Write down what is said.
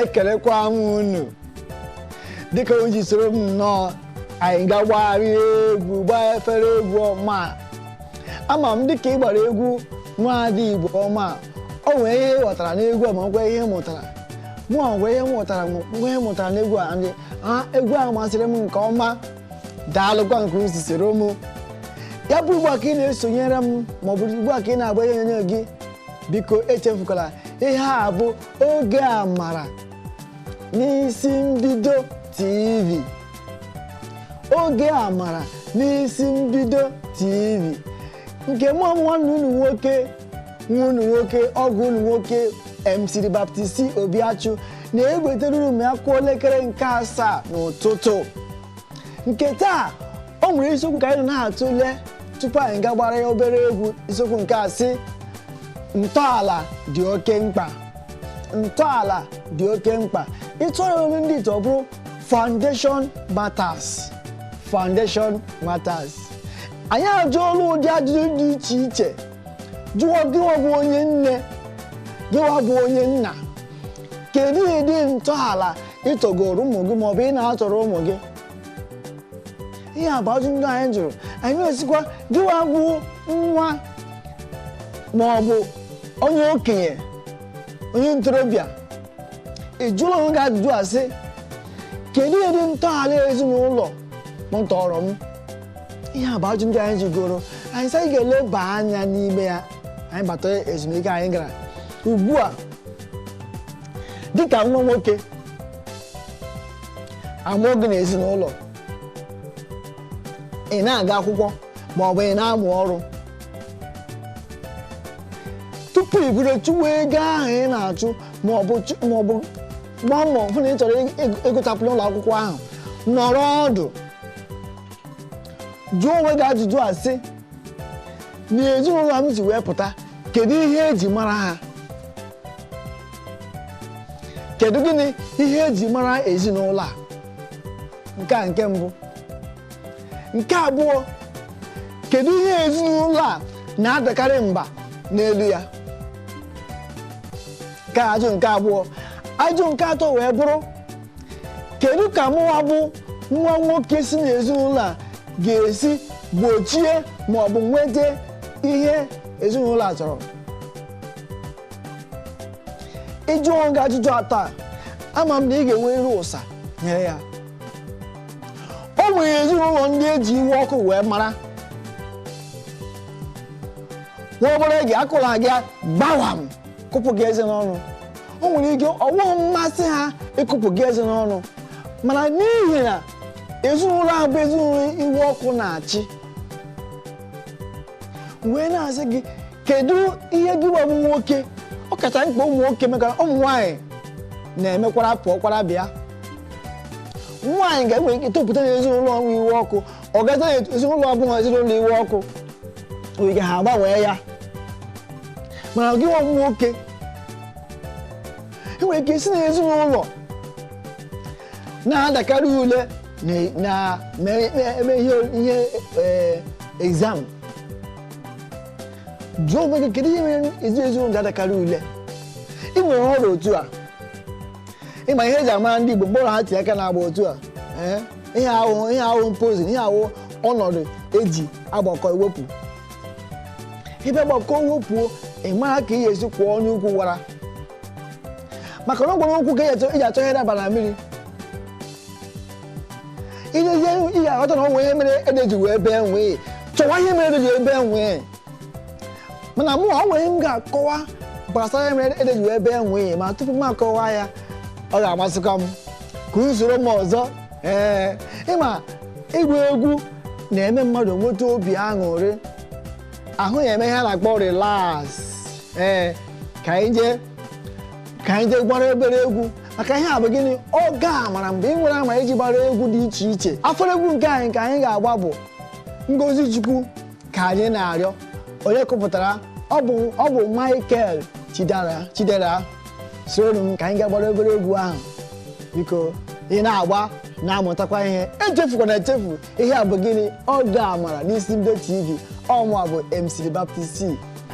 ekelekwa m unu dịka o ji soro m nnọọ anyị ga-agbagharị egwu gbaa efere egwu ọma ama m dịka ị gbara egwu nwaada igbo ọma o nwere ihe ị ghọtara n'egwu a ma nwekwa ihe ị mụtara mụ nwere ihe m mụtara ma nwekwa ihe m mụtara n'egwu a ndị a egwu ahụ masịrị m nke ọma daalụkwa nke unu si soro m ya bụ ugbu a ka ị na-esonyere m maọbụ ugbu a ka ị na-agba ihe onyonyo gị biko echefukwala ihe a bụ oge amara n'isi mbido tv oge amara n'isi mbido tv nke mụ nwanne unu nwoke nwa unu nwoke ọgọ unu nwoke mc baptist obiachụ na-ewetara unu a kụọ elekere nke asaa n'ụtụtụ nke taa o nwere isiokwu ka anyị na-atụle tupu anyị ga gbara ya obere egwu isiokwu nke a sị ntọala dị oke mkpa ntọala dị oke mkpa ị tụgharịa olu ndị ite ọ bụrụ foundation matters foundation matters anyị ajụọla ụdị ajụjụ dị iche iche jụọ gịwa bụ onye nne gịwa bụ onye nna kedu ụdị ntọala ị tọgoro ụmụ gị maọbụ ị na-atọrọ ụmụ gị ihe a bụ ajụ ndị anyị jụrụ anyị na-asịkwa gịwa bụ nwa ma ọ bụ onye okenye onye ntorobịa ị jụọla onwe gị ajụjụ a sị kedu ụdị ntọala ezinụlọ m tọrọ m ihe a bụ ajụ ndị anyị jụgoro anyị sị anyị ga-eleba anya n'ime ya anyị bata ezumike anyị gara ugbu a dịka nwa nwoke a mụọ gị n'ezinụlọ ị na-aga akwụkwọ ma ọ bụ ị na-amụ ọrụ tupu i bido chụwa ego ahụ ị na-achụ ma ọ bụ chụ- ma ọ bụ gbaa mbọ hụ na ị chọrọ ịgụchapụ n'ụlọ akwụkwọ ahụ nọrọ ọdụ jụọ onwe gị ajụjụ a sị n'ezinụlọ a m si wee pụta kedu ihe eji mara ha kedu gịnị ihe eji mara ezinụlọ a nke a nke mbụ nke abụọ kedu ihe ezinụlọ a na-adakarị mba n'elu ya nke a ajụ nke abụọ ajụ nke atọ wee bụrụ kedu ka mụwa bụ nwa nwoke si n'ezinụlọ a ga-esi gbochie ma ọ bụ nweta ihe ezinụlọ a chọrọ ị jụọ onwe gị ajụjụ atọ a ama m na ị ga-enwerịrị ụsa nyere ya o nwere ezinụlọ ndị eji iwe ọkụ wee mara nwa obere ihe akụọla gị gbawam kụpụ gị eze n'ọnụ o nwere ike ọ wụghị mmasị ha ịkụpụ gị eze n'ọnụ mana n'ihi na ezinụlọ ahụ bụ ezinụlọ iwe ọkụ na-achị wee na-asị gị kedu ihe gị nwa bụ nwoke ọ kacha mkpa ụmụ nwoke mekara ụmụ nwaanyị na-emekwara pụọkwara bịa nwaanyị ga-enwe ike topụta na ezinụlọ ọ wụ iwe ọkụ ọ gaza ezinụlọ ọbụla ezinụlọ iwe ọkụ oge ha agbanwee ya mana gị nwa nwoke i nwere ike isi na ezinụlọ na-adakarị ule na-eme ihe e, exam jụọ onwe gị kedu ihe mere ezi ezinụlọ ga-adakarị ule i were nọrọ otu a ịma ihe eji amara ndị Igbo mgbe ọbụla ha tinye aka n'agba otu a ihe ahụ wụ ihe ahụ wụ position ihe ahụ wụ ọnọdụ eji agbakọ ewepụ ebe gbakọ wepụo ị mara ka ị ga-esi kuo onye ukwu wara maka na ọ wụ ụkwụ ka e ji achọ ihe daba na mmiri i lezie ị ga-aghọta na o nwee ihe mere ede ji wee bee nwii chọwa ihe mere ede ji wee bee nwii mana mụ o nwere ihe m ga-akọwa gbasara ihe mere ede ji wee bee nwii ma tupu m akọwa ya ọ ga-amasịkwa m ka unu soro m ọzọ ee ịma ịgba egwu na-eme mmadụ nweta obi aṅụrị ahụ ya eme ihe a na-akpọ relax ee ka anyị jee ka anyị jee gbara obere egwu maka ihe a bụ gịnị oge amara mgbe ị nwere amara iji gbara egwu dị iche iche afọrọ egwu nke anyị ka anyị ga-agba bụ ngozi chukwu ka anyị na-arịọ onye kụpụtara ọ bụ ọ bụ michael chidera chidera soro m ka anyị gaa gbara obere egwu ahụ biko ị na-agba na-amụtakwa ihe echefukwana echefu ihe a bụ gịnị oge amara n'isi mbido tv ọ mụwa bụ mc baptist